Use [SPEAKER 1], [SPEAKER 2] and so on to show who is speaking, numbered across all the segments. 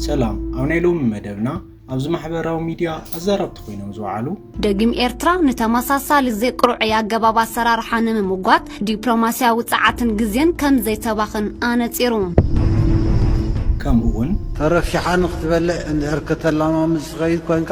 [SPEAKER 1] ሰላም ኣብ ናይ ሎሚ መደብና ኣብዚ ማሕበራዊ ሚድያ ኣዛረብቲ ኮይኖም ዝወዓሉ ደጊም ኤርትራ
[SPEAKER 2] ንተመሳሳሊ ዘይቅርዑይ ኣገባብ ኣሰራርሓ ንምምጓት ዲፕሎማስያዊ ጸዓትን ግዜን ከም ዘይተባኽን ኣነጺሩ።
[SPEAKER 1] ከምኡ'ውን ተረፊሓ ንኽትበልዕ
[SPEAKER 3] እንድሕር ከተለማምድ ትኸይድ ኮይንካ፣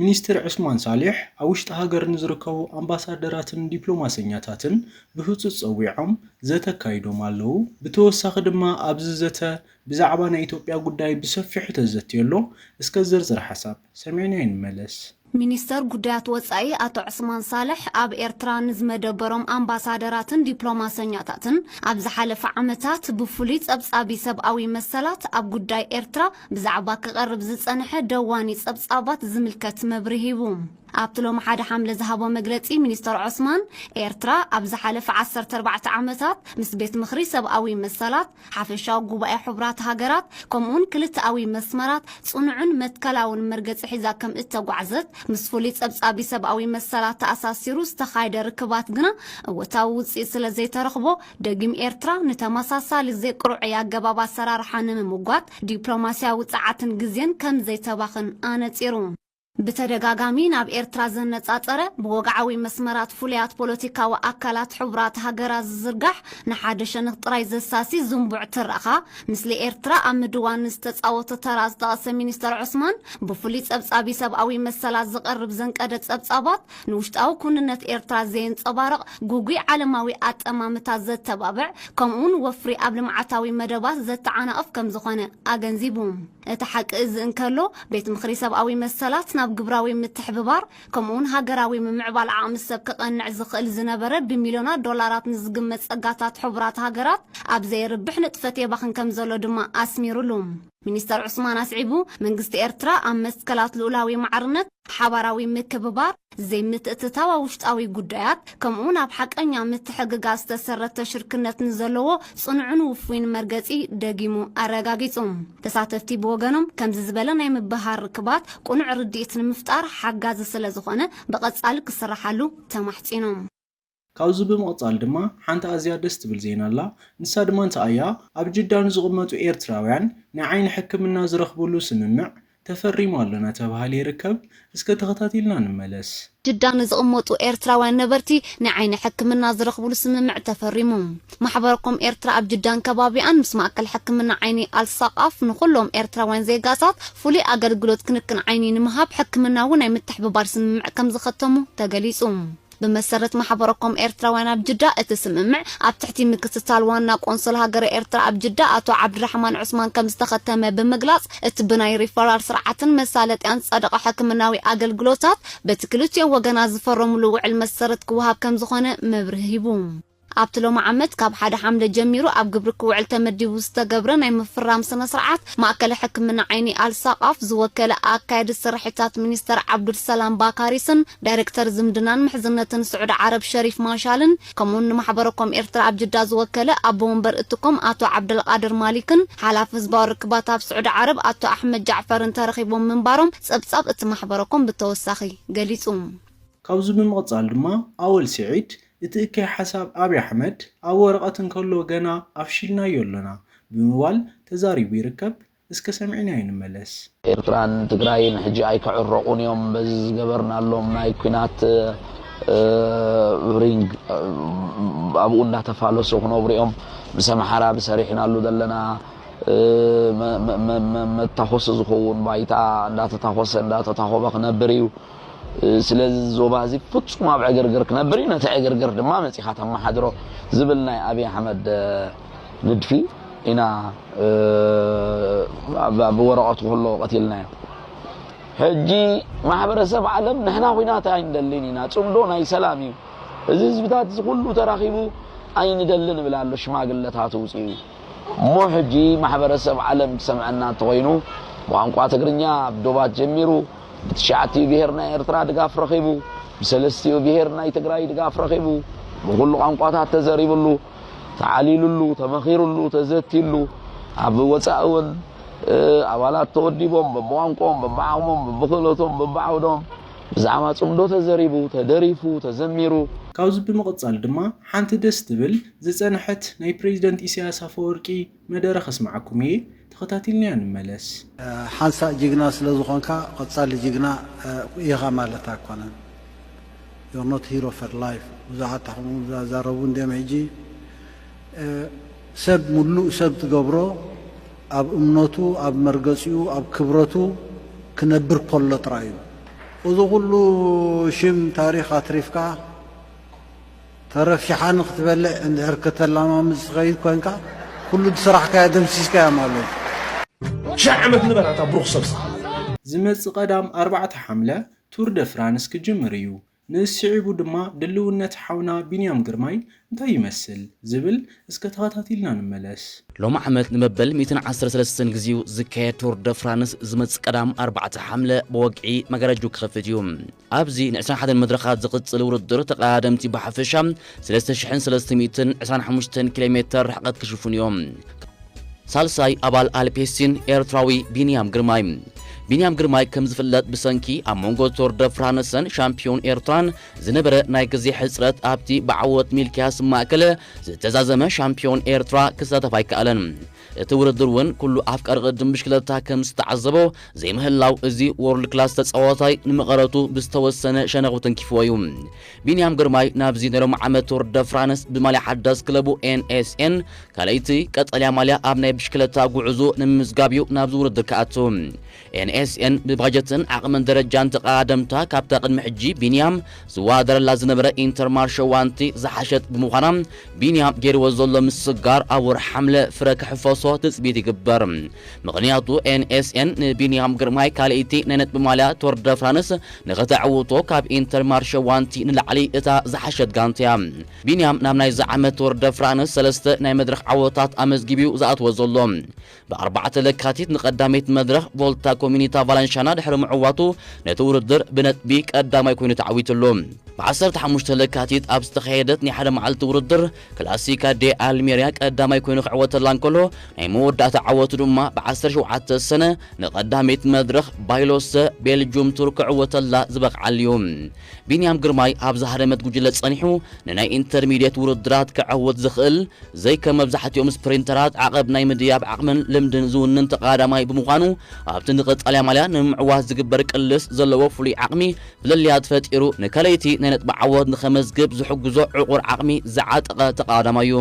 [SPEAKER 1] ሚኒስትር ዑስማን ሳልሕ ኣብ ውሽጢ ሃገር ንዝርከቡ ኣምባሳደራትን ዲፕሎማሰኛታትን ብህፁፅ ፀዊዖም ዘተ ኣካይዶም ኣለው። ብተወሳኺ ድማ ኣብዚ ዘተ ብዛዕባ ናይ ኢትዮጵያ ጉዳይ ብሰፊሑ ተዘትዩ ኣሎ። እስከ ዝርዝር ሓሳብ ሰሚዕናዮ ንመለስ። ሚኒስተር
[SPEAKER 2] ጉዳያት ወፃኢ ኣቶ ዑስማን ሳልሕ ኣብ ኤርትራ ንዝመደበሮም ኣምባሳደራትን ዲፕሎማሰኛታትን ኣብ ዝሓለፈ ዓመታት ብፍሉይ ፀብፃቢ ሰብኣዊ መሰላት ኣብ ጉዳይ ኤርትራ ብዛዕባ ክቐርብ ዝጸንሐ ደዋኒ ጸብጻባት ዝምልከት መብርሂ ሂቡ። ኣብቲ ሎሚ ሓደ ሓምለ ዝሃቦ መግለጺ ሚኒስተር ዖስማን፣ ኤርትራ ኣብ ዝሓለፈ ዓሰርተ ኣርባዕተ ዓመታት ምስ ቤት ምኽሪ ሰብኣዊ መሰላት፣ ሓፈሻዊ ጉባኤ ሕቡራት ሃገራት ከምኡ'ውን ክልተኣዊ መስመራት ጽኑዕን መትከላውን መርገጺ ሒዛ ከም እተጓዕዘት ምስ ፍሉይ ጸብጻቢ ሰብኣዊ መሰላት ተኣሳሲሩ ዝተኻየደ ርክባት ግና እወታዊ ውጽኢት ስለ ዘይተረኽቦ ደጊም ኤርትራ ንተመሳሳሊ ዘይቅርዑይ ኣገባብ ኣሰራርሓ ንምምጓት ዲፕሎማሲያዊ ጸዓትን ግዜን ከም ዘይተባኽን ኣነጺሩ። ብተደጋጋሚ ናብ ኤርትራ ዘነጻጸረ ብወግዓዊ መስመራት ፍሉያት ፖለቲካዊ ኣካላት ሕቡራት ሃገራት ዝዝርጋሕ ንሓደ ሸንኽ ጥራይ ዘሳሲ ዝንቡዕ ትረኻ፣ ምስሊ ኤርትራ ኣብ ምድዋን ንዝተጻወቶ ተራ ዝጠቐሰ ሚኒስተር ዑስማን፣ ብፍሉይ ጸብጻቢ ሰብኣዊ መሰላት ዝቐርብ ዘንቀደ ጸብጻባት፣ ንውሽጣዊ ኩንነት ኤርትራ ዘየንጸባርቕ፣ ጉጉይ ዓለማዊ ኣጠማምታ ዘተባብዕ፣ ከምኡ'ውን ወፍሪ ኣብ ልምዓታዊ መደባት ዘተዓናቕፍ ከም ዝኾነ ኣገንዚቡ። እቲ ሓቂ እዚ እንከሎ፣ ቤት ምኽሪ ሰብኣዊ መሰላት ናብ ግብራዊ ምትሕብባር፣ ከምኡ'ውን ሃገራዊ ምምዕባል ዓቕሚ ሰብ ከቐንዕ ዝኽእል ዝነበረ ብሚልዮናት ዶላራት ንዝግመት ጸጋታት ሕቡራት ሃገራት ኣብ ዘየርብሕ ንጥፈት የባኽን ከም ዘሎ ድማ ኣስሚሩሉ። ሚኒስተር ዑስማን ኣስዒቡ፣ መንግስቲ ኤርትራ ኣብ መትከላት ልኡላዊ ማዕርነት፣ ሓባራዊ ምክብባር፣ ዘይምትእትታው ኣብ ውሽጣዊ ጉዳያት፣ ከምኡ'ውን ኣብ ሓቀኛ ምትሕግጋዝ ዝተሰረተ ሽርክነት ንዘለዎ ጽኑዕን ውፉይን መርገጺ ደጊሙ ኣረጋጊጹ። ተሳተፍቲ ብወገኖም፣ ከምዚ ዝበለ ናይ ምብህሃር ርክባት ቅኑዕ ርድኢት ንምፍጣር ሓጋዚ ስለዝኾነ ብቐጻሊ ክስራሓሉ ተማሕጺኖም። ካብዚ
[SPEAKER 1] ብምቕጻል ድማ ሓንቲ ኣዝያ ደስ ትብል ዜና ኣላ፣ ንሳ ድማ እንታይ እያ፣ ኣብ ጅዳ ንዝቕመጡ ኤርትራውያን ናይ ዓይኒ ሕክምና ዝረኽብሉ ስምምዕ ተፈሪሙ ኣሎ ናተብሃለ ይርከብ፣ እስከ ተኸታቲልና ንመለስ። ጅዳ ንዝቕመጡ
[SPEAKER 2] ኤርትራውያን ነበርቲ ናይ ዓይኒ ሕክምና ዝረኽብሉ ስምምዕ ተፈሪሙ። ማሕበር ኮም ኤርትራ ኣብ ጅዳን ከባቢኣን ምስ ማእከል ሕክምና ዓይኒ ኣልሳቃፍ ንኹሎም ኤርትራውያን ዜጋታት ፍሉይ ኣገልግሎት ክንክን ዓይኒ ንምሃብ ሕክምናዊ ናይ ምትሕብባር ስምምዕ ከምዝኸተሙ ተገሊጹ። ብመሰረት ማሕበረኮም ኤርትራውያን ኣብ ጅዳ እቲ ስምምዕ ኣብ ትሕቲ ምክትታል ዋና ቆንስል ሃገረ ኤርትራ ኣብ ጅዳ ኣቶ ዓብዱራሕማን ዑስማን ከምዝተኸተመ ብምግላጽ እቲ ብናይ ሪፈራል ስርዓትን መሳለጥያን ዝጸደቐ ሕክምናዊ ኣገልግሎታት በቲ ክልቲኦም ወገናት ዝፈረምሉ ውዕል መሰረት ክወሃብ ከምዝኾነ መብርሂ ሂቡ። ኣብቲ ሎሚ ዓመት ካብ ሓደ ሓምለ ጀሚሩ ኣብ ግብሪ ክውዕል ተመዲቡ ዝተገብረ ናይ ምፍራም ስነ ስርዓት፣ ማእከለ ሕክምና ዓይኒ ኣል ሳቃፍ ዝወከለ ኣካያዲ ስርሒታት ሚኒስተር ዓብዱል ሰላም ባካሪስን ዳይረክተር ዝምድናን ምሕዝነትን ስዑዲ ዓረብ ሸሪፍ ማሻልን ከምኡውን ንማሕበረኮም ኤርትራ ኣብ ጅዳ ዝወከለ ኣቦ ወንበር እቲ ኮም ኣቶ ዓብደልቃድር ማሊክን ሓላፊ ህዝባዊ ርክባት ኣብ ስዑዲ ዓረብ ኣቶ ኣሕመድ ጃዕፈርን ተረኺቦም ምንባሮም ጸብጻብ እቲ ማሕበረኮም ብተወሳኺ ገሊጹ። ካብዚ
[SPEAKER 1] ብምቕጻል ድማ ኣወል ሲዒድ እቲ እከይ ሓሳብ ኣብይ ኣሕመድ ኣብ ወረቐት እንከሎ ገና ኣፍሺልናዮ ኣሎና ብምባል ተዛሪቡ ይርከብ። እስከ ሰሚዕናዮ ንመለስ። ኤርትራን
[SPEAKER 4] ትግራይን ሕጂ ኣይክዕረቑን እዮም በዚ ዝገበርናሎም ናይ ኲናት ሪንግ ኣብኡ እንዳተፋለሱ ክነብሩ እዮም ምስ ኣምሓራ ብሰሪሕናሉ ዘለና መታኾሲ ዝኸውን ባይታ እንዳተታኾሰ እንዳተታኾበ ክነብር እዩ። ስለዚ እዚ ዞባ እዚ ፍጹም ኣብ ዕግርግር ክነብር እዩ፣ ነቲ ዕግርግር ድማ መጺኻ ተመሓድሮ ዝብል ናይ ኣብይ ኣሕመድ ንድፊ ኢና ኣብ ወረቐቱ ከሎ ቀቲልናዮ። ሕጂ ማሕበረሰብ ዓለም ንሕና ኹናት ኣይንደልን ኢና፣ ጽምዶ ናይ ሰላም እዩ፣ እዚ ህዝብታት እዚ ኩሉ ተራኺቡ ኣይንደልን እብል ኣሎ ሽማግለታት ውጽኡ እሞ ሕጂ ማሕበረሰብ ዓለም ክሰምዐና እንተኾይኑ ብቋንቋ ትግርኛ ኣብ ዶባት ጀሚሩ ብትሽዓቲኡ ብሄር ናይ ኤርትራ ድጋፍ ረኺቡ፣ ብሰለስቲኡ ብሄር ናይ ትግራይ ድጋፍ ረኺቡ፣ ብኹሉ ቋንቋታት ተዘሪብሉ፣ ተዓሊሉሉ፣ ተመኺሩሉ፣ ተዘትዩሉ፣ ኣብ ወጻኢ እውን ኣባላት ተወዲቦም በብቋንቆኦም፣ በብዓቕሞም፣ በብክእለቶም፣ በብዓውዶም ብዛዕባ ጽምዶ ተዘሪቡ፣ ተደሪፉ፣ ተዘሚሩ። ካብዚ ብምቕጻል
[SPEAKER 1] ድማ ሓንቲ ደስ ትብል ዝጸንሐት ናይ ፕረዚደንት ኢሳያስ ኣፈወርቂ፣ መደረ ከስማዓኩም እየ ተከታቲልናዮ ንመለስ። ሓንሳእ
[SPEAKER 3] ጅግና ስለ ዝኾንካ ቐጻሊ ጅግና ኢኻ ማለት ኣይኮነን You're not hero for life ብዙሓት ኣሕኹም ዛዛረቡ እንድዮም ሕጂ ሰብ ሙሉእ ሰብ ትገብሮ ኣብ እምነቱ ኣብ መርገጺኡ ኣብ ክብረቱ ክነብር ኮሎ ጥራይ እዩ እዚ ኩሉ ሽም ታሪኽ ኣትሪፍካ ተረፊሓ ንክትበልዕ እንድሕር ከተላማምድ ዝትኸይድ ኮንካ ኩሉ ዝስራሕካዮ ደምሲስካዮ ማለት እዩ። ሽሕ
[SPEAKER 5] ዓመት ንበር ኣታ ብሩኽ ሰብ ስሓቕ። ዝመጽእ
[SPEAKER 1] ቀዳም ኣርባዕተ ሓምለ ቱር ደ ፍራንስ ክጅምር እዩ፣ ንእስ ስዒቡ ድማ ድልውነት ሓውና ቢንያም ግርማይ እንታይ ይመስል ዝብል እስከ ተኸታቲልና ንመለስ። ሎሚ ዓመት
[SPEAKER 6] ንመበል ሚእትን ዓሰርተ ሰለስተን ግዜኡ ዝካየድ ቱር ደ ፍራንስ ዝመጽእ ቀዳም ኣርባዕተ ሓምለ ብወግዒ መጋረጅኡ ክኸፍት እዩ። ኣብዚ ን ዕስራን ሓደን መድረኻት ዝቕጽል ውድድር ተቐዳደምቲ ብሓፈሻ ሰለስተ ሽሕን ሰለስተ ሚእትን ዕስራን ሓሙሽተን ኪሎ ሜተር ርሕቐት ክሽፍኑ እዮም። ሳልሳይ ኣባል ኣልፔሲን ኤርትራዊ ቢንያም ግርማይ። ቢንያም ግርማይ ከም ዝፍለጥ ብሰንኪ ኣብ መንጎ ቶር ደ ፍራንሰን ሻምፕዮን ኤርትራን ዝነበረ ናይ ግዜ ሕጽረት ኣብቲ ብዓወት ሚልክያስ ማእከል ዝተዛዘመ ሻምፕዮን ኤርትራ ክሳተፍ ኣይከኣለን። እቲ ውድድር ውን ኩሉ ኣፍቃሪ ቅድድም ብሽክለታ ከም ዝተዓዘቦ ዘይምህላው እዚ ዎርልድ ክላስ ተጻዋታይ ንመቐረቱ ብዝተወሰነ ሸነኽ ውትንኪፍዎ እዩ። ቢንያም ግርማይ ናብዚ ናይ ሎሚ ዓመት ቱር ደ ፍራንስ ብማልያ ሓዳስ ክለቡ ኤንኤስኤን ካልኣይቲ ቀጠልያ ማልያ ኣብ ናይ ብሽክለታ ጉዕዝኡ ንምምዝጋብ እዩ ናብዚ ውድድር ክኣቱ። NSN ብባጀትን ዓቕምን ደረጃን ተቐዳደምታ ካብታ ቅድሚ ሕጂ ቢንያም ዝወዳደረላ ዝነበረ ኢንተርማርሸ ዋንቲ ዝሓሸት ብምዃና ቢንያም ገይርዎ ዘሎ ምስግጋር ኣብ ወርሒ ሓምለ ፍረ ክሕፈሶ ትጽቢት ይግበር። ምኽንያቱ NSN ንቢንያም ግርማይ ካልኣይቲ ናይ ነጥቢ ማልያ ቶር ደ ፍራንስ ንኸተዕውቶ ካብ ኢንተርማርሸ ዋንቲ ንላዕሊ እታ ዝሓሸት ጋንታ'ያ። ቢንያም ናብ ናይዚ ዓመት ቶር ደ ፍራንስ ሰለስተ ናይ መድረኽ ዓወታት ኣመዝጊቡ'ዩ ዝኣትዎ ዘሎ። ብኣርባዕተ ለካቲት ንቀዳመይቲ መድረኽ ቮልታ ኮሚኒታ ቫላንሻና ድሕሪ ምዕዋቱ ነቲ ውድድር ብነጥቢ ቀዳማይ ኮይኑ ተዓዊትሉ። ብዓሰርተ ሓሙሽተ ለካቲት ኣብ ዝተኻየደት ናይ ሓደ መዓልቲ ውድድር ክላሲካ ዴ ኣልሜርያ ቀዳማይ ኮይኑ ክዕወተላ እንከሎ ናይ መወዳእታ ዓወቱ ድማ ብዓሰርተ ሸውዓተ ሰነ ንቀዳመይቲ መድረኽ ባይሎሰ ቤልጁም ቱር ክዕወተላ ዝበቕዓሉ'ዩ። ቢንያም ግርማይ ኣብ ዝሃደመት ጉጅለ ጸኒሑ ንናይ ኢንተርሚድየት ውድድራት ከዐውት ዝኽእል፣ ዘይከም መብዛሕትኦም ስፕሪንተራት ዓቐብ ናይ ምድያብ ዓቕምን ልምድን ዝውንን ተቐዳዳማይ ብምዃኑ፣ ኣብቲ ንቀጻልያ ማልያ ንምምዕዋት ዝግበር ቅልስ ዘለዎ ፍሉይ ዓቕሚ ፍልልያት ፈጢሩ ንከለይቲ ናይ ነጥቢ ዓወት ንኸመዝግብ ዝሕግዞ ዕቑር ዓቕሚ ዝዓጠቐ ተቐዳዳማይ'ዩ።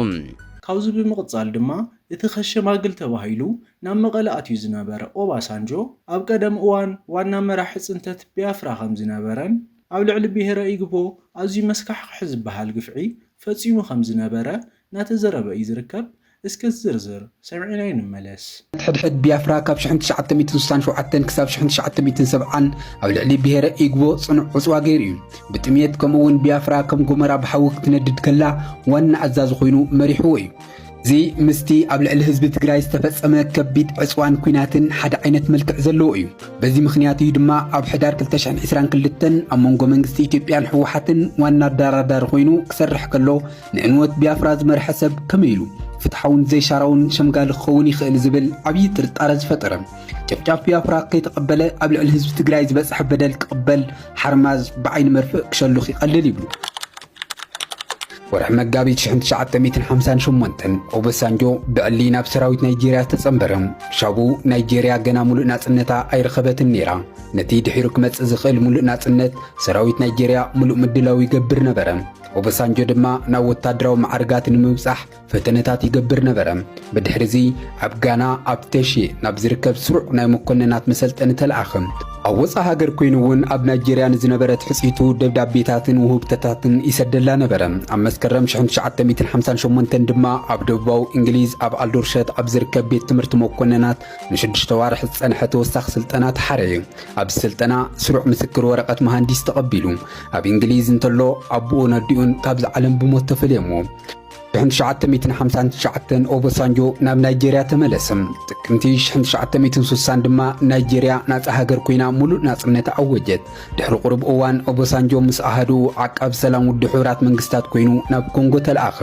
[SPEAKER 6] ካብዚ ብምቕጻል
[SPEAKER 1] ድማ እቲ ከሸማግል ተባሂሉ ናብ መቐለ ኣትዩ ዝነበረ ኦባሳንጆ፣ ኣብ ቀደም እዋን ዋና መራሒ ፅንተት ቢያፍራ ከምዝነበረን ኣብ ልዕሊ ብሄረ ኢግቦ ኣዝዩ መስካሕኽሒ ዝበሃል ግፍዒ ፈፂሙ ከምዝነበረ እናተዘረበ እዩ ዝርከብ። እስከ ዝርዝር ሰሚዕናዮ ንመለስ። ሕድሕድ ቢያፍራ
[SPEAKER 7] ካብ ሽሕን ትሽዓተ ሚእትን ስሳን ሸውዓተን ክሳብ ሽሕን ትሽዓተ ሚእትን ሰብዓን ኣብ ልዕሊ ብሄረ ኢግቦ ፅኑዕ ዕፅዋ ገይሩ እዩ። ብጥምየት ከምኡ እውን ቢያፍራ ከም ጎመራ ብሓዊ ክትነድድ ከላ ዋና ኣዛዚ ኮይኑ መሪሕዎ እዩ። እዚ ምስቲ ኣብ ልዕሊ ህዝቢ ትግራይ ዝተፈጸመ ከቢድ ዕጽዋን ኲናትን ሓደ ዓይነት መልክዕ ዘለዎ እዩ። በዚ ምኽንያት እዩ ድማ ኣብ ሕዳር 2022 ኣብ መንጎ መንግስቲ ኢትዮጵያን ህወሓትን ዋና ኣደራዳሪ ኮይኑ ክሰርሕ ከሎ ንዕንወት ቢያፍራ ዝመርሐ ሰብ ከመይ ኢሉ ፍትሓውን ዘይሻራውን ሸምጋሊ ክኸውን ይኽእል ዝብል ዓብዪ ጥርጣረ ዝፈጠረ ጨፍጫፍ ቢያፍራ ከይተቐበለ ኣብ ልዕሊ ህዝቢ ትግራይ ዝበፅሐ በደል ክቕበል ሓርማዝ ብዓይኒ መርፍእ ክሸሉኽ ይቐልል ይብሉ። ወርሒ መጋቢት 1958 ኦበሳንጆ ብዕሊ ናብ ሰራዊት ናይጀርያ ዝተጸንበረ ሻቡ ናይጀርያ ገና ሙሉእ ናጽነታ ኣይረኸበትን ነይራ ነቲ ድሒሩ ክመጽእ ዝኽእል ሙሉእ ናጽነት ሰራዊት ናይጀርያ ሙሉእ ምድላው ይገብር ነበረ ኦበሳንጆ ድማ ናብ ወታደራዊ መዓርጋት ንምብጻሕ ፈተነታት ይገብር ነበረ። ብድሕርዚ ኣብ ጋና ኣብ ተሼ ናብ ዝርከብ ስሩዕ ናይ መኮንናት መሰልጠኒ ተለኣኸ። ኣብ ወፃእ ሃገር ኮይኑ እውን ኣብ ናይጀርያ ንዝነበረ ትሕጽኢቱ ደብዳቤታትን ውህብቶታትን ይሰደላ ነበረ። ኣብ መስከረም 1958 ድማ ኣብ ደቡባዊ እንግሊዝ ኣብ ኣልዶርሸት ኣብ ዝርከብ ቤት ትምህርቲ መኮንናት ንሽዱሽተ ኣዋርሕ ዝጸንሐ ተወሳኺ ስልጠና ተሓረየ። ኣብዚ ስልጠና ስሩዕ ምስክር ወረቐት መሃንዲስ ተቐቢሉ። ኣብ እንግሊዝ እንተሎ ኣቦኡን ኣዲኡን ካብዚ ዓለም ብሞት ተፈልየሞ። ሽሕን ትሽዓተ ሚእትን ሓምሳን ትሽዓተን ኦበሳንጆ ናብ ናይጀርያ ተመለሰ። ጥቅምቲ ሽሕን ትሽዓተ ሚእትን ስሳን ድማ ናይጀርያ ናጻ ሃገር ኮይና ሙሉእ ናጽነት ኣወጀት። ድሕሪ ቁሩብ እዋን ኦበሳንጆ ምስ ኣሃዱ ዓቃብ ሰላም ውድብ ሕቡራት መንግስታት ኮይኑ ናብ ኮንጎ ተለኣኸ።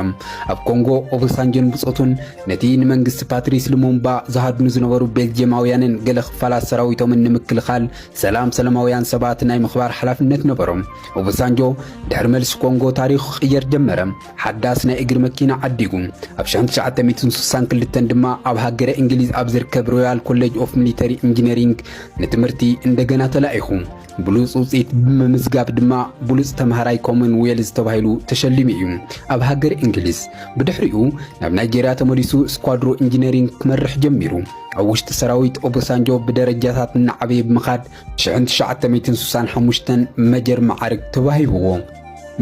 [SPEAKER 7] ኣብ ኮንጎ ኦበሳንጆን ብጾቱን ነቲ ንመንግስቲ ፓትሪስ ልሙምባ ዝሃድኑ ዝነበሩ ቤልጅየማውያንን ገለ ክፋላት ሰራዊቶምን ንምክልኻል ሰላም ሰላማውያን ሰባት ናይ ምኽባር ሓላፍነት ነበሮም። ኦበሳንጆ ድሕሪ መልሲ ኮንጎ ታሪኹ ክቕየር ጀመረ። ሓዳስ ናይ እግሪ መኪና ዓዲጉ። ኣብ 1962 ድማ ኣብ ሃገረ እንግሊዝ ኣብ ዝርከብ ሮያል ኮሌጅ ኦፍ ሚሊተሪ ኢንጂነሪንግ ንትምህርቲ እንደገና ተላኢኹ። ብሉጽ ውጽኢት ብምምዝጋብ ድማ ብሉጽ ተምሃራይ ኮመን ዌልዝ ተባሂሉ ተሸሊሙ እዩ ኣብ ሃገር እንግሊዝ። ብድሕሪኡ ናብ ናይጀርያ ተመሊሱ ስኳድሮ ኢንጂነሪንግ ክመርሕ ጀሚሩ። ኣብ ውሽጢ ሰራዊት ኦቦሳንጆ ብደረጃታት እናዓበየ ብምኻድ ሽሕን ትሽዓተ ሚእትን ስሳን ሓሙሽተን መጀር መዓርግ ተዋሂብዎ።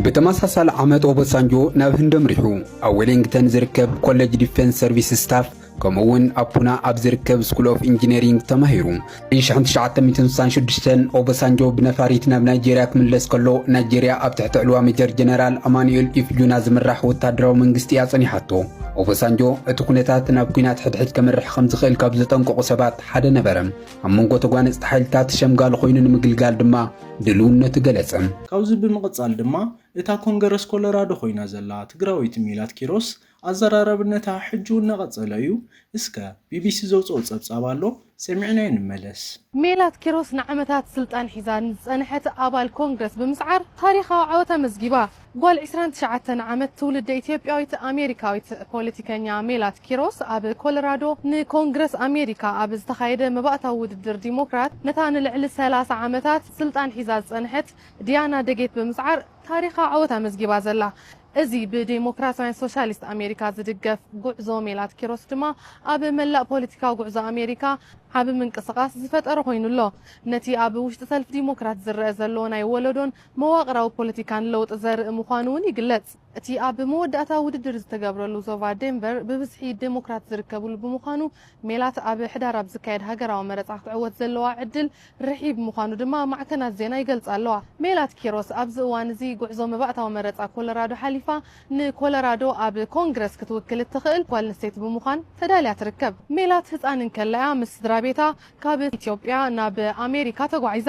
[SPEAKER 7] ብተመሳሳሊ ዓመት ኦቦሳንጆ ናብ ህንዲ ኣምሪሑ ኣብ ዌሊንግተን ዝርከብ ኮሌጅ ዲፌንስ ሰርቪስ ስታፍ ከምኡ እውን ኣብ ፑና ኣብ ዝርከብ ስኩል ኦፍ ኢንጂነሪንግ ተማሂሩ ን 1966 ኦቦሳንጆ ብነፋሪት ናብ ናይጀርያ ክምለስ ከሎ ናይጀርያ ኣብ ትሕቲ ዕልዋ ሜጀር ጀነራል ኣማኑኤል ኢፍጁና ዝምራሕ ወታደራዊ መንግስቲ እያ ጸኒሓቶ ኦቦሳንጆ እቲ ኩነታት ናብ ኩናት ሕድሕድ ከምርሕ ከም ዝኽእል ካብ ዘጠንቀቑ ሰባት ሓደ ነበረ ኣብ መንጎ ተጓነጽቲ ሓይልታት ሸምጋሊ ኮይኑ ንምግልጋል ድማ ድልውነቱ ገለጸ። ካብዚ ብምቕጻል
[SPEAKER 1] ድማ እታ ኮንገረስ ኮለራዶ ኮይና ዘላ ትግራወይቲ ሜላት ኪሮስ ኣዘራራብነታ ሕጂውን እናቐጸለ እዩ። እስከ ቢቢሲ ዘውጽኦ ጸብጻብ ኣሎ ሰሚዕናዮ ንመለስ። ሜላት ኪሮስ
[SPEAKER 8] ንዓመታት ስልጣን ሒዛ ንዝጸንሐት ኣባል ኮንግረስ ብምስዓር ታሪኻዊ ዓወት ኣመዝጊባ። ጓል ዕስራን ትሽዓተን ዓመት ትውልደ ኢትዮጵያዊት ኣሜሪካዊት ፖለቲከኛ ሜላት ኪሮስ ኣብ ኮለራዶ ንኮንግረስ ኣሜሪካ ኣብ ዝተኻየደ መባእታዊ ውድድር ዲሞክራት ነታ ንልዕሊ ሰላሳ ዓመታት ስልጣን ሒዛ ዝጸንሐት ዲያና ደጌት ብምስዓር ታሪኻ ዓወት ኣመዝጊባ ዘላ እዚ ብዴሞክራትውያን ሶሻሊስት ኣሜሪካ ዝድገፍ ጉዕዞ ሜላት ኪሮስ ድማ ኣብ መላእ ፖለቲካዊ ጉዕዞ ኣሜሪካ ዓቢ ምንቅስቓስ ዝፈጠረ ኮይኑ ኣሎ ነቲ ኣብ ውሽጢ ሰልፊ ዲሞክራት ዝረኣ ዘሎ ናይ ወለዶን መዋቕራዊ ፖለቲካን ለውጢ ዘርኢ ምዃኑ'ውን ይግለጽ። እቲ ኣብ መወዳእታ ውድድር ዝተገብረሉ ዞባ ዴንቨር ብብዝሒ ዴሞክራት ዝርከብሉ ብምዃኑ፣ ሜላት ኣብ ሕዳር ኣብ ዝካየድ ሃገራዊ መረጻ ክትዕወት ዘለዋ ዕድል ርሒብ ምዃኑ ድማ ማዕከናት ዜና ይገልጻ ኣለዋ። ሜላት ኪሮስ ኣብዚ እዋን'ዚ ጉዕዞ መባእታዊ መረጻ ኮሎራዶ ሓሊፋ ንኮሎራዶ ኣብ ኮንግረስ ክትውክል እትኽእል ጓልንስተይቲ ብምዃን ተዳልያ ትርከብ። ሜላት ህጻን እንከላ'ያ ምስ ስድራቤታ ካብ ኢትዮጵያ ናብ ኣሜሪካ ተጓዒዛ።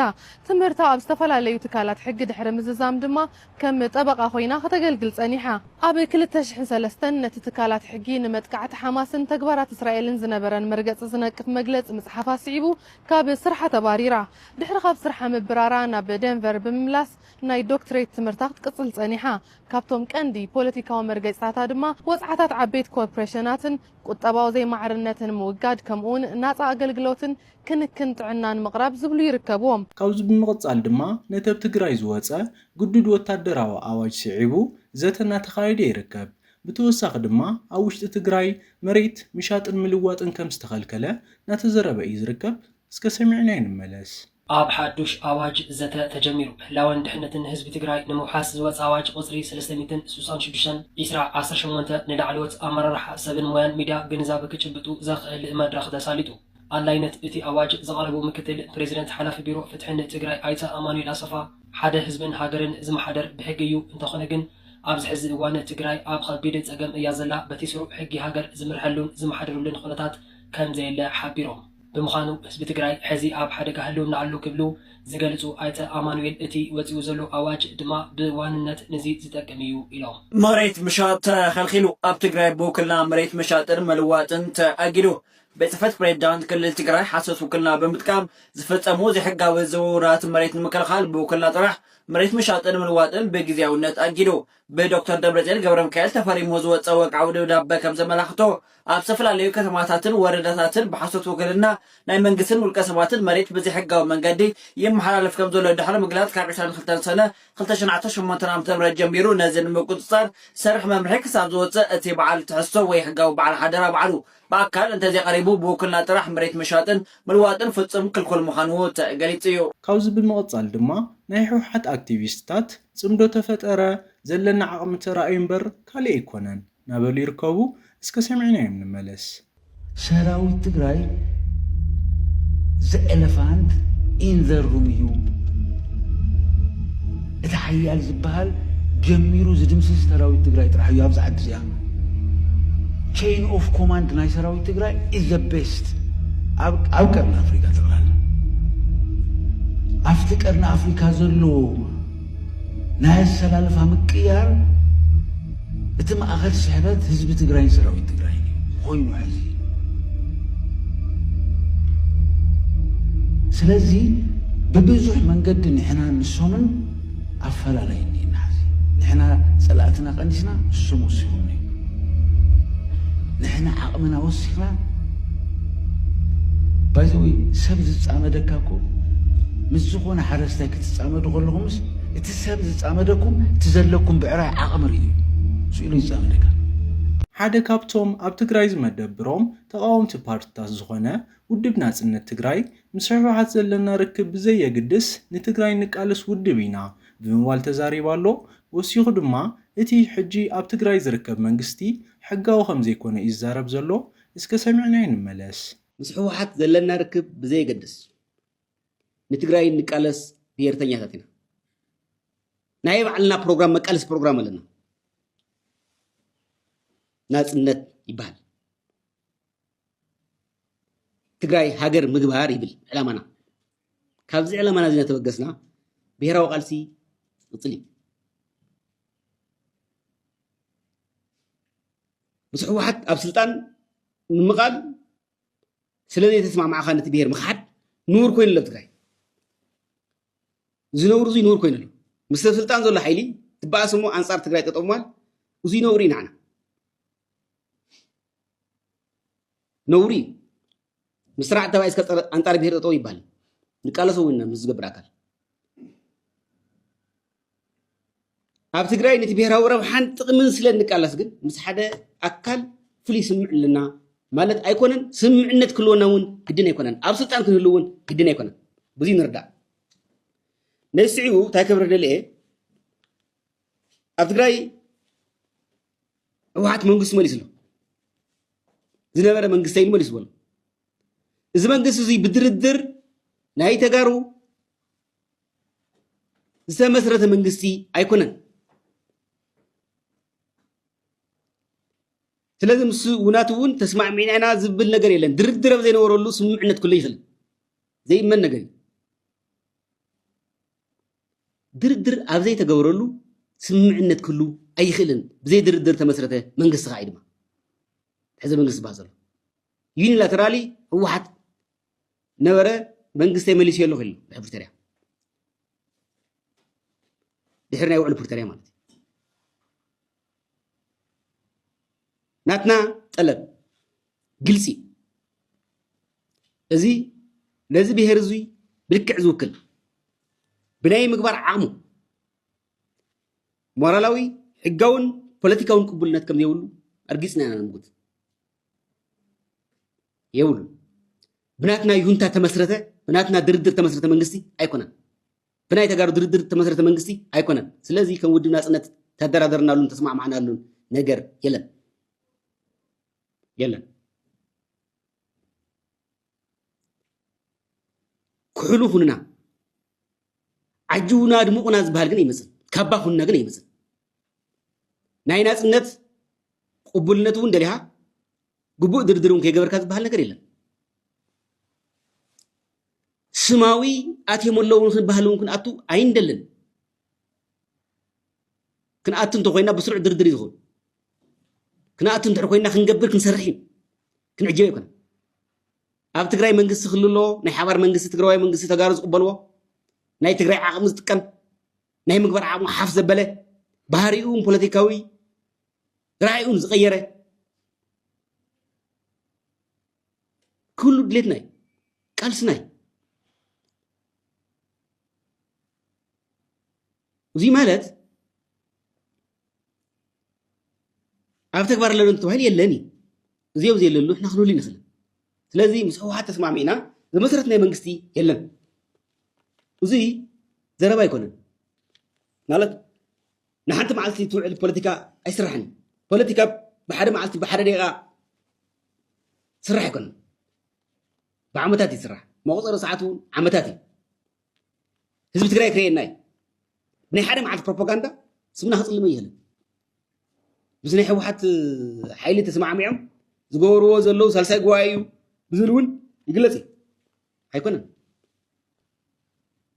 [SPEAKER 8] ትምህርታ ኣብ ዝተፈላለዩ ትካላት ሕጊ ድሕሪ ምዝዛም ድማ ከም ጠበቓ ኮይና ከተገልግል ጸኒሓ። ኣብ ክልተ ሽሕን ሰለስተን ነቲ ትካላት ሕጊ ንመጥቃዕቲ ሓማስን ተግባራት እስራኤልን ዝነበረን መርገጺ ዝነቅፍ መግለጺ ምጽሓፋ ስዒቡ ካብ ስርሓ ተባሪራ። ድሕሪ ካብ ስርሓ ምብራራ ናብ ደንቨር ብምምላስ ናይ ዶክትሬት ትምህርታ ክትቅጽል ጸኒሓ። ካብቶም ቀንዲ ፖለቲካዊ መርገጺታታ ድማ ወጽዓታት ዓበይቲ ኮርፕረሸናትን ቁጠባዊ ዘይማዕርነትን ምውጋድ ከምኡውን ናጻ ኣገልግሎትን ክንክን ጥዕናን ምቕራብ ዝብሉ ይርከብዎም። ካብዚ ብምቕጻል
[SPEAKER 1] ድማ ነቲ ኣብ ትግራይ ዝወጸ ግዱድ ወታደራዊ ኣዋጅ ስዒቡ ዘተ እናተኻየደ ይርከብ። ብተወሳኺ ድማ ኣብ ውሽጢ ትግራይ መሬት ምሻጥን ምልዋጥን ከምዝተኸልከለ እናተዘረበ እዩ ዝርከብ። እስከ ሰሚዕናዮ ንመለስ። ኣብ ሓዱሽ
[SPEAKER 9] ኣዋጅ ዘተ ተጀሚሩ። ህላወን ድሕነትን ህዝቢ ትግራይ ንምውሓስ ዝወፀ ኣዋጅ ቁፅሪ ሰለስተ ሚእትን ስሳን ሽዱሽተን፣ ኢስራ ዓሰርተ ሸሞንተ፣ ንላዕለዎት ኣመራርሓ፣ ሰብን ሞያን ሚድያ ግንዛበ ክጭብጡ ዘኽእል መድረኽ ተሳሊጡ። ኣድላይነት እቲ ኣዋጅ ዘቕረቡ ምክትል ፕሬዚደንት ሓላፊ ቢሮ ፍትሕን ትግራይ ኣይተ ኣማኑኤል ኣሰፋ፣ ሓደ ህዝብን ሃገርን ዝመሓደር ብሕጊ እዩ፣ እንተኾነ ግን ኣብዚ ሕዚ እዋን ትግራይ ኣብ ኸቢድ ፀገም እያ ዘላ፣ በቲ ስሩዕ ሕጊ ሃገር ዝምርሐሉን ዝመሓደረሉን ኹነታት ከምዘየለ ሓቢሮም። ብምዃኑ ህዝቢ ትግራይ ሕዚ ኣብ ሓደጋ ህልውና ኣሎ ክብሉ ዝገልፁ ኣይተ ኣማኑኤል፣ እቲ ወፂኡ ዘሎ ኣዋጅ ድማ ብዋንነት ንዚ ዝጠቅም እዩ ኢሎም። መሬት ምሻጥ
[SPEAKER 10] ተኸልኺሉ፣ ኣብ ትግራይ ብውክልና መሬት ምሻጥን ምልዋጥን ተኣጊዱ። ቤት ፅሕፈት ፕሬዚዳንት ክልል ትግራይ ሓሶት ውክልና ብምጥቃም ዝፍፀሙ ዘይሕጋዊ ዝውውራት መሬት ንምክልኻል ብውክልና ጥራሕ መሬት ምሻጥን ምልዋጥን ብግዚያዊነት ኣጊዱ። ብዶክተር ደብረፅዮን ገብረሚካኤል ተፈሪሙ ዝወፀ ወግዓዊ ደብዳበ ከም ዘመላኽቶ ኣብ ዝተፈላለዩ ከተማታትን ወረዳታትን ብሓሶት ውክልና ናይ መንግስትን ውልቀ ሰባትን መሬት ብዘይሕጋዊ መንገዲ ይመሓላለፍ ከም ዘሎ ድሕሪ ምግላፅ ካብ ዕስራን ክልተን ሰነ ክልተ ሽሕን ዓሰርተ ሸሞንተን ዓመተ ምህረት ጀሚሩ ነዚ ንምቁፅፃር ዝሰርሕ መምርሒ ክሳብ ዝወፅእ እቲ በዓል ትሕዝቶ ወይ ሕጋዊ በዓል ሓደራ ባዕሉ ብኣካል እንተዘይቐሪቡ ብውክልና ጥራሕ መሬት ምሻጥን ምልዋጥን ፍፁም ክልኩል ምዃኑ ተገሊፁ እዩ። ካብዚ ብምቕፃል
[SPEAKER 1] ድማ ናይ ህውሓት ኣክቲቪስትታት ጽምዶ ተፈጠረ ዘለና ዓቅሚ ተራእዩ እምበር ካልእ ኣይኮነን ናበሉ ይርከቡ እስከ ሰሚዕናዮም ንመለስ። ሰራዊት
[SPEAKER 11] ትግራይ ዘኤለፋንት ኢን ዘ ሩም እዩ እቲ ሓያል ዝብሃል ጀሚሩ ዝድምስስ ሰራዊት ትግራይ ጥራሕ እዩ ኣብዛ ዓዲ እዚኣ ቸይን ኦፍ ኮማንድ ናይ ሰራዊት ትግራይ ኢዝ ዘ ቤስት ኣብ ቀርኒ ኣፍሪካ ጠቅላላ ኣብቲ ቀርኒ ኣፍሪካ ዘሎ ናይ ኣሰላልፋ ምቅያር እቲ ማእኸል ስሕበት ህዝቢ ትግራይን ሰራዊት ትግራይን እዩ ኮይኑ ሕዚ ስለዚ ብብዙሕ መንገዲ ንሕና ንሶምን ኣፈላለይ እኒና ሕዚ ንሕና ፀላእትና ቀኒስና እሱም ወሲኹኒ ንሕና ዓቕምና ወሲኽና ባይዘወይ ሰብ ዝፃመደካ እኮ ምስ ዝኾነ ሓረስታይ ትጻመዱ ከለኹምስ እቲ ሰብ ዝጻመደኩም እቲ ዘለኩም ብዕራይ ዓቕሚ ርእዩ ስኢሉ ይጻመደካ። ሓደ
[SPEAKER 1] ካብቶም ኣብ ትግራይ ዝመደብሮም ተቓወምቲ ፓርትታት ዝኾነ ውድብ ናጽነት ትግራይ፣ ምስ ህወሓት ዘለና ርክብ ብዘየግድስ ንትግራይ ንቃለስ ውድብ ኢና ብምባል ተዛሪባ ኣሎ። ወሲኹ ድማ እቲ ሕጂ ኣብ ትግራይ ዝርከብ መንግስቲ ሕጋዊ ከምዘይኮነ እዩ ዝዛረብ ዘሎ። እስከ ሰሚዕናዮ ንመለስ። ምስ ህወሓት
[SPEAKER 12] ዘለና ርክብ ብዘየገድስ ንትግራይ እንቃለስ ብሄርተኛታት ኢና ናይ ባዕልና ፕሮግራም መቃለሲ ፕሮግራም ኣለና ናፅነት ይበሃል ትግራይ ሃገር ምግባር ይብል ዕላማና ካብዚ ዕላማና እዚ እናተበገስና ብሄራዊ ቃልሲ ይቕፅል እዩ ምስ ህወሓት ኣብ ስልጣን ምምቓል ስለዘይተስማዕማዕካ ነቲ ብሄር ምኽሓድ ንቡር ኮይኑ ኣሎ ኣብ ትግራይ እዚ ነውሪ እዙይ ንቡር ኮይኑ ኣሎ ምስ ሰብ ስልጣን ዘሎ ሓይሊ ትበኣስ እሞ ኣንፃር ትግራይ ጠጠው ምባል እዙይ ነውሪ እዩ ንዓና ነውሪ እዩ ምስ ስርዓት ተባይ እስከ ኣንፃር ብሄር ጠጠው ይበሃል ንቃለሶ እውን ምስ ዝገብር ኣካል ኣብ ትግራይ ነቲ ብሄራዊ ረብሓን ጥቕምን ስለ እንቃለስ ግን ምስ ሓደ ኣካል ፍሉይ ስምምዕ ኣለና ማለት ኣይኮነን። ስምምዕነት ክህልወና እውን ግድን ኣይኮነን። ኣብ ስልጣን ክንህሉ እውን ግድን ኣይኮነን። ብዙ ንርዳእ። ነዚ ስዒቡ እንታይ ክብረ ደልየ ኣብ ትግራይ ህወሓት መንግስቲ መሊሱ ኣሎ ዝነበረ መንግስቲ ኢሉ መሊሱ በሎ እዚ መንግስቲ እዚ ብድርድር ናይ ተጋሩ ዝተመስረተ መንግስቲ ኣይኮነን። ስለዚ ምስ ውናት እውን ተስማዕሚዕና ኢና ዝብል ነገር የለን። ድርድር ኣብ ዘይነበረሉ ስምምዕነት ክህሉ ይኽእል ዘይእመን ነገር እዩ። ድርድር ኣብ ዘይተገብረሉ ስምምዕነት ክህሉ ኣይኽእልን። ብዘይ ድርድር ተመስረተ መንግስቲ ከዓ እዩ ድማ ሕዚ መንግስቲ ዝበሃል ዘሎ ዩኒላተራሊ ህወሓት ነበረ መንግስተይ መሊሱ የለኹ ኢሉ ድሕሪ ፕሪቶርያ ድሕሪ ናይ ውዕሊ ፕሪቶርያ ማለት እዩ ናትና ጠለብ ግልፂ እዚ ነዚ ብሄር እዙይ ብልክዕ ዝውክል ብናይ ምግባር ዓቕሙ ሞራላዊ ሕጋውን ፖለቲካውን ቅቡልነት ከም ዘይብሉ ኣርጊፅና ኢና ንምጉት የብሉ ብናትና ይሁንታ ተመስረተ ብናትና ድርድር ተመስረተ መንግስቲ ኣይኮነን ብናይ ተጋሩ ድርድር ተመስረተ መንግስቲ ኣይኮነን ስለዚ ከም ውድብ ናፅነት ተደራደርናሉን ተስማዕማዕናሉን ነገር የለን የለን ኩሕሉ ኩንና ዓጅውና ድሙቕና ዝበሃል ግን ኣይመፅን ካባ ኩንና ግን ኣይመፅን ናይ ናፅነት ቅቡልነት እውን ደሊኻ ግቡእ ድርድር እውን ከይገበርካ ዝበሃል ነገር የለን ስማዊ ኣትዮም ኣለዉ ክንበሃል እውን ክንኣቱ ኣይንደልን ክንኣቱ እንተኮይና ብስሩዕ ድርድር እዩ ዝኸውን ክንኣቱ እንድሕር ኮይና ክንገብር ክንሰርሕ እዩ ክንዕጆ ኣይኮነን። ኣብ ትግራይ መንግስቲ ክህሉ ኣለዎ። ናይ ሓባር መንግስቲ ትግራዋይ መንግስቲ ተጋሩ ዝቕበልዎ ናይ ትግራይ ዓቕሚ ዝጥቀም ናይ ምግባር ዓቕሙ ሓፍ ዘበለ ባህሪኡን ፖለቲካዊ ራእዩን ዝቐየረ ክህሉ ድሌትና እዩ ቃልስና እዩ እዚ ማለት ኣብ ተግባር ኣለዶ ተባሂሉ የለን እዩ እዚኦ ዘየለሉ ሕና ክንህሉ ንኽእል ስለዚ ምስ ህወሓት ተስማሚዕና ዝመሰረት ናይ መንግስቲ የለን እዚ ዘረባ ኣይኮነን ማለት ንሓንቲ መዓልቲ ትውዕል ፖለቲካ ኣይስራሕን ፖለቲካ ብሓደ መዓልቲ ብሓደ ደቂቃ ስራሕ ኣይኮነን ብዓመታት ይስራሕ መቁፀሪ ሰዓት እውን ዓመታት እዩ ህዝቢ ትግራይ ክርእየና እዩ ናይ ሓደ መዓልቲ ፕሮፓጋንዳ ስምና ክፅልመ ይህልን ምስ ናይ ሕወሓት ሓይሊ ተሰማዕሚዖም ዝገበርዎ ዘለዉ ሳልሳይ ጉባኤ እዩ ብዝብል እውን ይግለፅ እዩ ኣይኮነን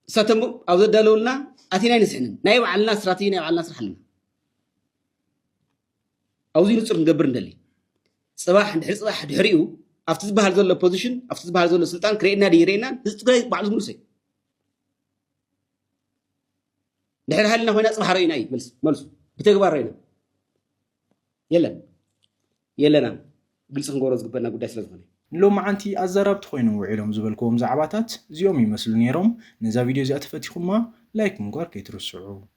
[SPEAKER 12] እሳቶም ኣብ ዘዳለውልና ኣቲና ኣይንስሕንን ናይ ባዕልና ስትራቴጂ ናይ ባዕልና ስራሕ ኣለና ኣብዚ ንጹር ክንገብር እንደሊ ጽባሕ ድሕሪ ጽባሕ ድሕሪኡ ኣብቲ ዝበሃል ዘሎ ፖዚሽን ኣብቲ ዝበሃል ዘሎ ስልጣን ክርእየና ድዩ ይርእየናን ህዝቢ ትግራይ ባዕሉ ዝምልሶ እዩ ድሕሪ ሃልና ኮይና ፅባሕ ረኢና እዩ መልስ መልሱ ብተግባር ረኢና የለን የለናን ግልፂ ክንገብሮ ዝግበና ጉዳይ ስለ ዝኾነ ሎመዓንቲ
[SPEAKER 1] ኣዘራብቲ ኮይኖም ውዒሎም ዝበልክዎም ዛዕባታት እዚኦም ይመስሉ ነይሮም ነዛ ቪድዮ እዚኣ ተፈቲኹማ ላይክ ምግባር ከይትርስዑ